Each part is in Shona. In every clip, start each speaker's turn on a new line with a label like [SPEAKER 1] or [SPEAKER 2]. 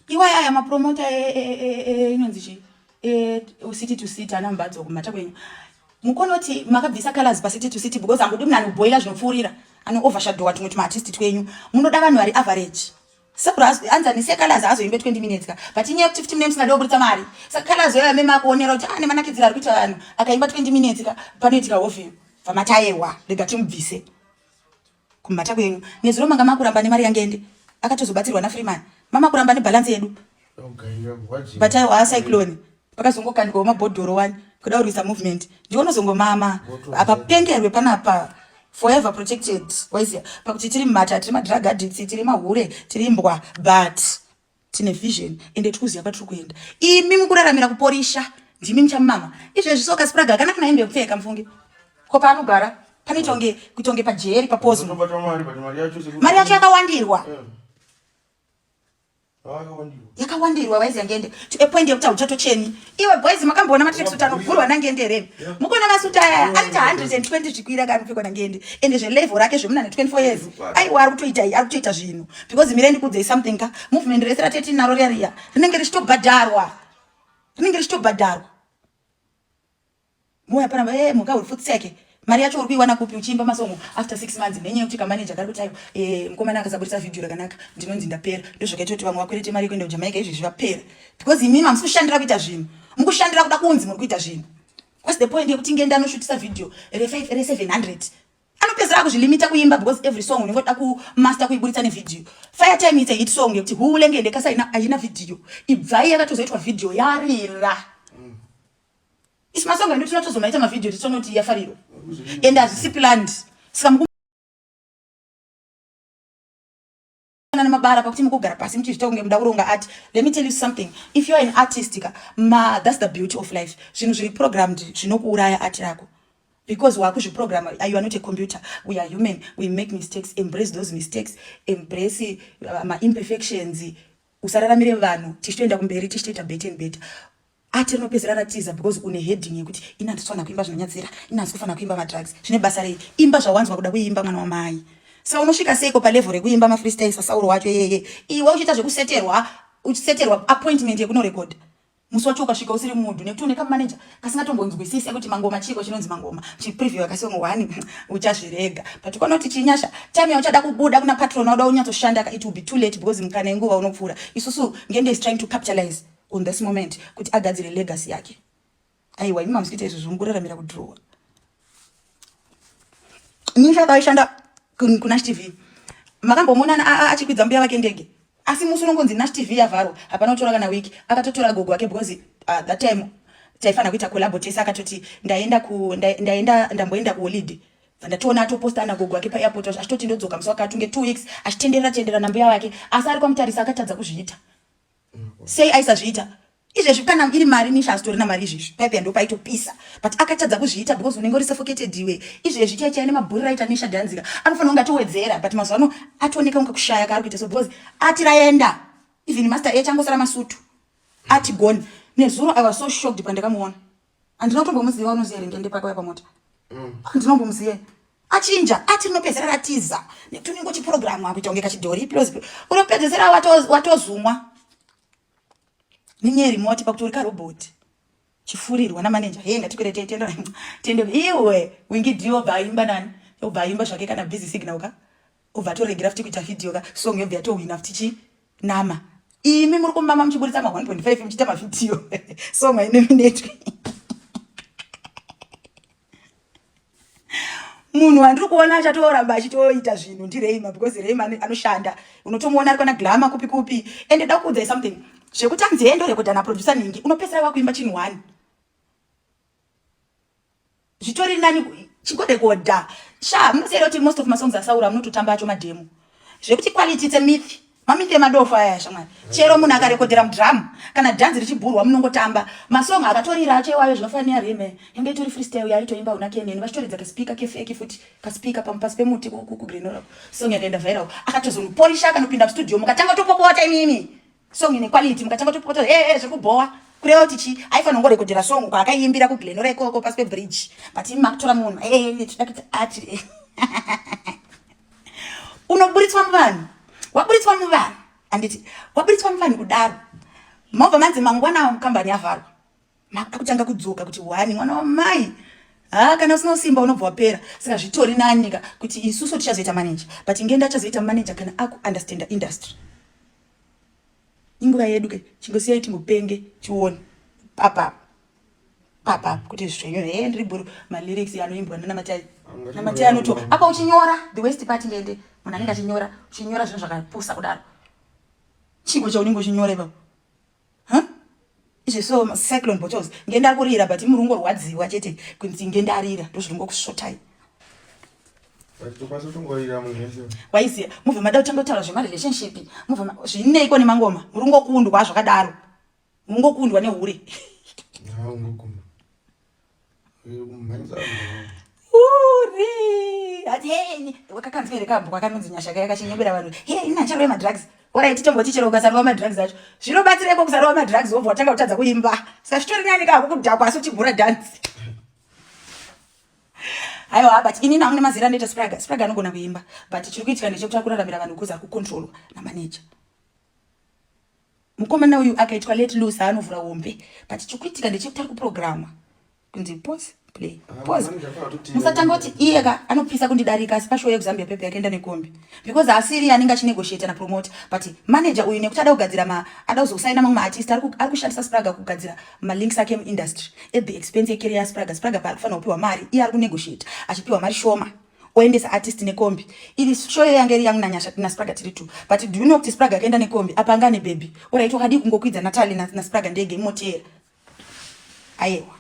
[SPEAKER 1] iwai aya mapromota inonzi chii city to city ana mumbadzo kumhata kwenyu mukonoti makabvisa colors pacity to city because angodi munhu anoboila zvinopfuurira anoovashadowa tumwe tumaartisti twenyu munoda vanhu vari average sekuanzanise colors azoimbe 20 minutes ka but inyaya yekuti 15 minutes nadoburitsa mari saka colors yoya meme akuonera kuti ane ah, manakidzira ari kuita vanhu akaimba 20 minutes ka panoitika hofi pamatayewa rega timubvise Kumhata kwenyu. Nezuro manga makuramba nemari yangende. Akatozobatsirwa na Freeman. Mama kuramba ne balance yedu. Batai wa cyclone. Pakazongokandwa mabhodhoro wani kuda kurwisa movement. Ndiwo nozongomama. Apa pengerwe panapa forever protected. Waizia pakuti tiri mhata, tiri ma drug addicts, tiri mahure, tiri mbwa but tine vision ende tikuziva kwatiri kuenda imi mukuraramira kuporisha ndimi muchamumama izvezvi so kasipuraga akanaka naye ndekupfeka mufunge ko paanogara pane tonge kutonge pajeri papozi mari yacho yakawandirwa eh. yakawandirwa vaizi yangende to a point yekuti hauchatocheni iwe boys makamboona matreksuit anovhurwa nangende here mukuona masuti ayaya anoita 120 zvikwira ka anopfekwa nangende ende zvelevel rake zvemunana 24 years aiwa ari kutoita ari kutoita zvinhu because mire ndikudzei something ka movement rese ratete naro riya riya rinenge richitobhadharwa rinenge richitobhadharwa Moya paramba eh muka uri futi seke. Mari yacho uri kuiwana kupi uchiimba masongo after 6 months nenye kuti kamanager kari kutayo eh mkomana akasaburitsa video rakanaka ndinonzi ndapera ndozvakaita kuti vamwe vakwete mari yekuenda kuJamaica izvi zvapera because imimi hamusi kushandira kuita zvinhu mukushandira kuda kunzi muri kuita zvinhu what's the point yekuti ngenda anoshutisa video re 5 re 700 anopedzera kuzvilimita kuimba because every song unenge uda kumaster kuiburitsa nevideo fire time it's a hit song yekuti huulengende kasa haina video ibvai yakatozoitwa video yarira Isu masongo edu tinotozomaita mavhidhiyo tichonoti yafariro and hazvisi planned saka muku mabara pakuti mukugara pasi muchizvita kunge muda kuronga art let me tell you something if youare an artist ka ma thats the beauty of life zvinhu zviri programmed zvinokuuraya art rako because wakuzviprograma you are not a computer we are human we make mistakes embrace those mistakes embrace uh, maimperfections usararamire vanhu tichitoenda kumberi tichitoita better and better ati rinopedzera ratiza because une heading yekuti ini handisi kufanira kuimba zvinonyadzira ini handisi kufanira kuimba madrugs zvine basa rei imba zvawanzwa kuda kuimba mwana wamai sa unosvika seiko palevel rekuimba mafreestyle sasauro wacho yeye iwe uchiita zvekuseterwa uchiseterwa appointment yekunorekodha musi wacho ukasvika usiri mudhu nekuti une kamanager kasingatombonzwisise kuti mangoma chiiko chinonzi mangoma chipreview akasongo one uchazvirega but ukaona kuti chinyasha time yauchada kubuda kuna patron wauda unyatsoshanda ka it will be too late because mukana yenguva unopfuura isusu ngende is trying to capitalize on this moment kuti agadzire legacy yake aiwa imi mamusikuita izvo zvonguraramira kudrowa Nisha paishanda kuNash TV makambomuonana achikwidza mbuya vake ndege asi musi unongonzi Nash TV yavharwa hapana kutora kana wiki akatotora gogo wake because uh, that time taifanira kuita collabo tese akatoti ndaenda ku ndaenda ndamboenda kuholiday ndatoona atoposta ana gogo wake paairport achitoti ndodzoka musi wakati unge two weeks achitenderera tenderera nambuya wake asi ari kwamutarisa akatadza kuzviita sei aisazviita izvezvi kana iri mari misha asitorina mari izvezvi paipeya ndo paitopisa but akatadza kuzviita because unenge uri suffocated iwe izvezvi chai chai nemabhuri raita misha dhanzika anofanira kunge atowedzera but mazuva ano atooneka kunge kushaya kaari kuita so because ati raenda even master echangosara masutu ati gone nezuro i was so shocked pandakamuona handina kutombomuziva unoziva here ngende pako yapamota mm. handina kumbomuziva achinja ati rinopedzera ratiza netuningo chipurogiramu akuita kunge kachidhori plus unopedzesera watozumwa nenyeri moti pakuti uri karoboti chifurirwa namaneja hee ngatikwerete tiende tiende iwe wingidio obva aimba nani obva aimba zvake kana busy signal ka obva atoregera futi kuita video ka song yobva yatohwina futi chii Nama imi muri kumama muchiburitsa ma 1.5 muchiita mavhidhiyo so mainominetwe munhu wandiri kuona achatoramba achitoita zvinhu ndireima because reima anoshanda unotomuona ari kwana glama kupi kupi and da kuudzai something zvekuti anzi endo rekodha naproducer ningi unopesera wakuimba chinhu one zvitori nani chigodegoda sha munoziva kuti most of masongs asaura munototamba acho mademo zvekuti quality it's a myth mamyth emadofo aya shamwari chero munhu akarekodhera mudrum kana dhanzi richibhurwa munongotamba masong akatorira acho iwayo zvinofanira rime inge itori freestyle yaitoimba una keneni vachitoridza kaspika kefeki futi kaspika pamupasi pemuti kugrenora song yakaenda viral akatozomuporisha akanopinda mustudio mukatanga topopota imimi song ine quality mukatanga topota hey, hey, zvekubhowa kureva kuti chi aifanira kungorekodhera song kwaakaiimbira kuglenora ikoko pasi pebridge but imi makutora munhu tida kuti ati unoburitswa muvanhu waburitswa muvanhu anditi waburitswa muvanhu kudaro mobva manzi mangwana kambani yavharwa makutanga kudzoka kuti wani mwana wamai ha kana usina usimba unobva wapera saka zvitori nanyika kuti isusu tichazoita manager but ngenda achazoita manager kana akuunderstanda industry inguva yedu ke chingosiyai tingopenge tione papa papa kuti zvenyu he ndiri bhuru malyrics anoimbwa nanamatai namatai anoto apa uchinyora the west part ngende munhu anenge achinyora uchinyora zvinhu zvakapusa kudaro chigo chaunenge uchinyora ipapo huh? izvi so cyclone bottles ngenda kurira but murungo rwadziwa chete kunzi ngendarira ndozviringo kusvotai waiziya mubva mada kutanga kutaura zvemarelationship mubva zvineiko nemangoma murungokundwa zvakadaro murungokundwa nehure wakakanzwa here kambwa kanonzi nyasha kaya kachinyebera vanhu he ina chero yemadrugs orai titombochi chero ukasarova madrugs acho zvinobatsireko kusarova madrugs wobva watanga kutadza kuimba saka zvitori nani ka kukudhakwa asi uchigura dhansi haiwa but inini amune mazera anoita spraga spraga anogona kuimba but chiri kuitika ndechekuti akuraramira vanhu kuzi ari kucontrolwa namaneja Mukomana uyu akaitwa let loose anovhura hombe but chikuitika ndechekuti ari kuprogramwa kunzi pose play ah, pose musatanga kuti iye ka anopisa kundidarika asi pashow yekuzambia pepe yakaenda nekombi because asiri anenge achinegotiate napromote but manager uyu nekuti ada kugadzira ma ada kuzosaina mamwe maartist ari kushandisa spraga kugadzira malinks ake muindustry at the expense yecareer spraga spraga paari kufanira kupiwa mari iye ari kunegotiate achipiwa mari shoma oendesa artist nekombi iri show yanga iri yangu nanyasha naspraga tiri two but do you know kuti spraga akaenda nekombi apa anga ane baby orit wakadii kungokwidza natali naspraga ndege imoteera ayewa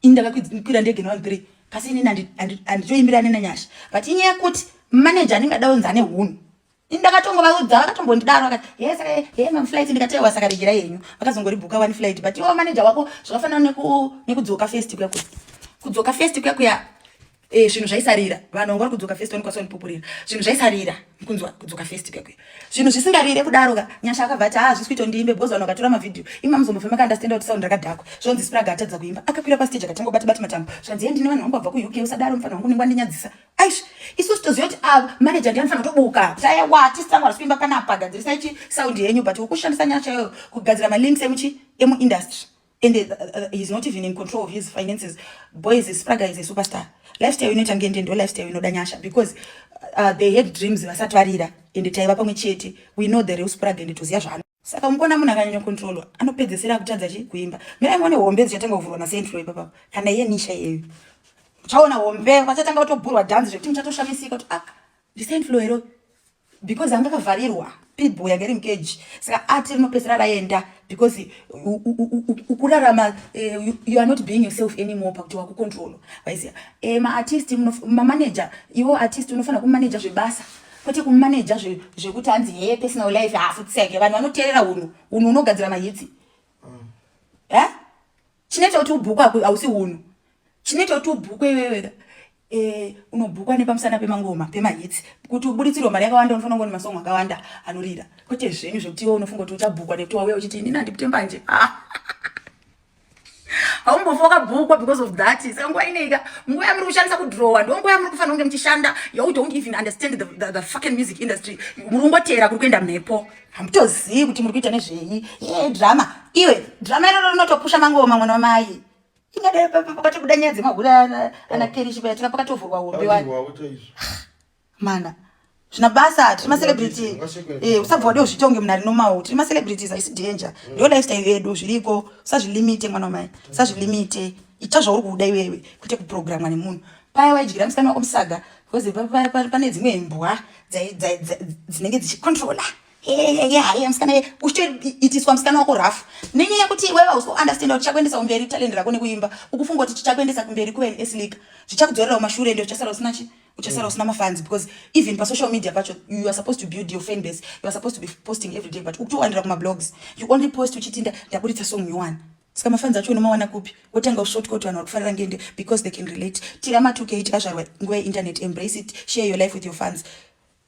[SPEAKER 1] ini ndakakwira ndege nevanhu three kasi inini anditoimbira nenanyasha but inyaya kuti manager anenge adaunza ane hunhu ndakatongovaudza vakatombondidaro vakati he saka he maflight ndikati ewa saka regera yenyu vakazongoribhuka one flight but iwo manager wako zvakafanana nekudzoka first kuya kuya kudzoka first kuya kuya eh, zvinhu zvaisarira vanhu vanga vari kudzoka first wanikwaso vanipupurira zvinhu zvaisarira kunzwa kudzoka first kuya kuya zvinhu zvisingarire kudaro ka nyasha akabva ati haa zvisi kuita ndiimbe because vanhu vakatora mavhidhiyo imi mamuzombofema kaandastenda kuti sound rakadhakwa zvonzi spraga atadza kuimba akakwira pastage akatanga kubata bata matambo zvikanzi ye ndine vanhu vangu vabva kuuk usadaro mufana wangu unenge wandinyadzisa aish isu sitoziva kuti ah, manager ndiye anofanira kutobuka saya wati sangu ari kuimba panapa gadzirisai chi sound yenyu but wokushandisa nyaya chaiyo kugadzira malinks emuchi emuindustry and uh, uh, uh, he's not even in control of his finances boys spraga is a superstar lifestyle inoita ngende ndo lifestyle inoda nyasha because uh, they had dreams vasati varira and taiva pamwe chete we know the real spraga and toziva zvaano saka mukuona munhu akanyanya kontrolwa anopedzesera akutadza chi kuimba mirai muone hombe dzichatanga kuvhurwa masentro ipapapo kana iye nisha iyeyo muchaona hombe vachatanga kutobhurwa dhanzi zvekuti muchatoshamisika kuti ah ndisentro hero because anga akavharirwa pitbull yanga iri mukeji saka ati rinopedzisira raenda because ukurarama eh, you are not being yourself anymore pakuti wakukontrolo vaiziva eh, maartist mamaneja iwo artist unofanira kumaneja zvebasa kwete kumaneja zvekuti hanzi hee personal life haafutseke vanhu vanoteerera hunhu hunhu hunogadzira mahitsi e chinoita kuti ubhukwa hausi hunhu chinoita kuti ubhukwe iweweka eh, unobhukwa nepamusana pemangoma pemahitsi kuti ubuditsirwe mari yakawanda unofana kungo nemasongo akawanda anorira kwete zvenyu zvekuti iwe unofunga kuti uchabhukwa nekuti wauya uchiti inini handipute mbanje ah. haumbofa wakabhukwa because of that saka nguva ineika nguva yamuri kushandisa kudrowa ndo nguva yamuri kufanira kunge muchishanda you don't even understand the, the, the fucking music industry muri kungoteera kuri kuenda mhepo hamutozivi kuti muri kuita nezvei e drama iwe drama iroro rinotopusha mangoma mwana wamai ingade pakatobuda nyaya dzemahura ana kerishi paya tika pakatovhurwa hombe wani mana zvina basa tiri macelebrity eh, usabva wade uzvitonge munhu ari nomau tiri macelebrities haisi danger mm. ndo lifestyle yedu zviriko usazvilimite mwana wamai usazvilimite ita zvauri kuda iwewe kwete kuprogramwa nemunhu paya waidyira musikana wako musaga bcause pane dzimwe imbwa dzinenge dzichicontrola haye musikana ye uchitoitiswa musikana wako rafu nenyaya yekuti iwewe hausi kuunderstanda kuti chakuendesa kumberi talend rako nekuimba ukufunga kuti chichakuendesa kumberi kuve neslika zvichakudzorera kumashure ende uchasara usina chii uchasara mm. usina mafans because even pasocial media pacho you are supposed to build your fan base you are supposed to be posting every day but ukutowandira kumablogs you only post uchiti ndaburitsa song nyowani saka mafans acho unomawana kupi wotanga ushoti koti vanhu vakufanira ngende because they can relate tira matuke tikazvarwa nguva yeinternet embrace it share your life with your fans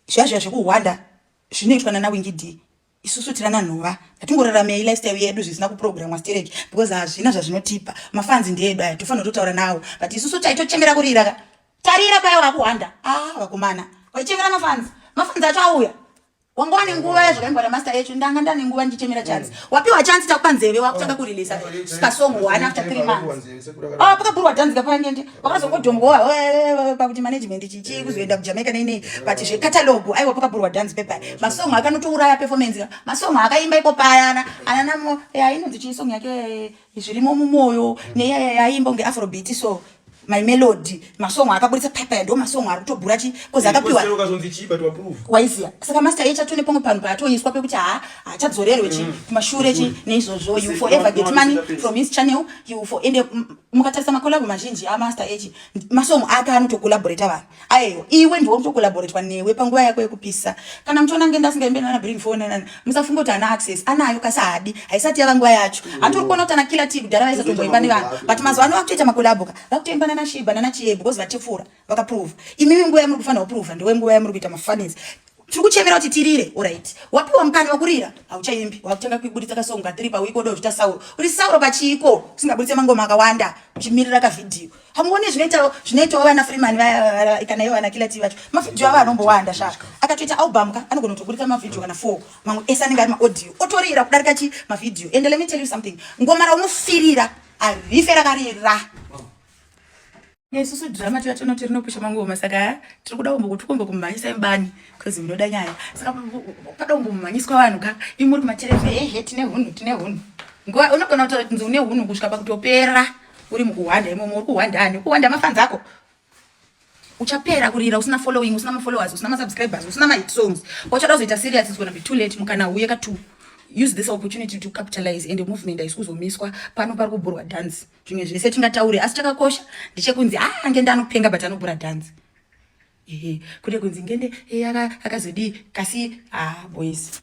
[SPEAKER 1] zvazviya zvekuhwanda zvinoitwa nanawingidi isusu tirana nhova hatingoraramei lifestyle yedu zvisina kuprogramwa stereki because hazvina zvazvinotipa mafanzi ndeedu aya tofanira totaura nawo but isusu taitochemera kurira ka tarira paya wakuhwanda a ah, vakomana waichemera mafanzi mafanzi acho auya wanga wane nguva yazvakaimbwa namaster echo ndanga ndane nguva ndichemera chance mm. wapiwa chance takupa nzeve wakutanga kurilisa kasong one after three months ah, pakaburwa tanzika pangende wakazongodhongwa pakuti management chichi kuzoenda kujamaica neinei but zvecatalogu aiwa pakaburwa dance pepa masong akanotouraya performance ka masong akaimba iko payana ananamo yainonzi chii song yake zvirimo mumoyo neyayaiimba kunge afrobit so my melody masong akaburitsa pepa ndo masong ari kutobhura chi bcause akapiwa waiziya saka master echa tone pamwe panhu paatoiswa pekuti ha hachadzorerwe chi mm. kumashure chi neizvozvo you forever get money from his channel you for ende mukatarisa makolabo mazhinji amaster echi masong ake anotocollaborata vanhu ayeyo iwe ndiwo mutocollaboratwa newe panguva yako yekupisa kana muchiona ngenda asingaimbe nana bring phone nana musafunga kuti ana access anayo kasi haadi haisati yava nguva yacho antori kuona kuti ana killer t kudhara vaisatomboimba nevanhu but mazuva ano vakutoita makolabo ka vakutoimba nana shiba nana chieb because vatipfuura vakaprova imimi nguva yamuri kufanira kuprova ndewe nguva yamuri kuita mafunnies tiri kuchemera kuti tirire orit wapiwa mukana wakurira hauchaimbi wakutanga kuiburitsa kasongo katiri pawiko oda kuzvita sauro uri sauro pachiiko usingaburitse mangoma akawanda uchimirira kavhidhiyo hamuone zvinoitawo zvinoitawo vana freeman kana ivo vana kilati vacho mavhidhiyo avo anombowanda sha akatoita album ka anogona kutoburitsa mavhidhiyo kana four mamwe ese anenge ari maaudio otorira kudarika chi mavhidhiyo and let me tell you something ngoma raunofirira arife rakarira nesusu drama tiya tinoti rinopusha mangoma saka tiri kuda kumbo kuti kumbo kumhanyisa imbani bcause munoda nyaya saka pada kumbo mumhanyiswa vanhu ka imi muri kumatereve hehe tine hunhu tine hunhu nguva unogona kutaura kunzi une hunhu kusvika pakutopera uri mukuhwanda imomo uri kuhwanda ani ukuhwanda mafanzi ako uchapera kurira usina following usina mafollowers usina masubscribers usina mahit songs wachada kuzoita serious is gonna be too late mukana uye ka two use this opportunity to capitalize and movement haisi kuzomiswa pano pari kubhurwa dance zvimwe zvinhu setingataure asi chakakosha ndichekunzi a ange ndanopenga but anobura dhanzi ehe kune kunzi ngende eh, akazodii kasi ha ah, boys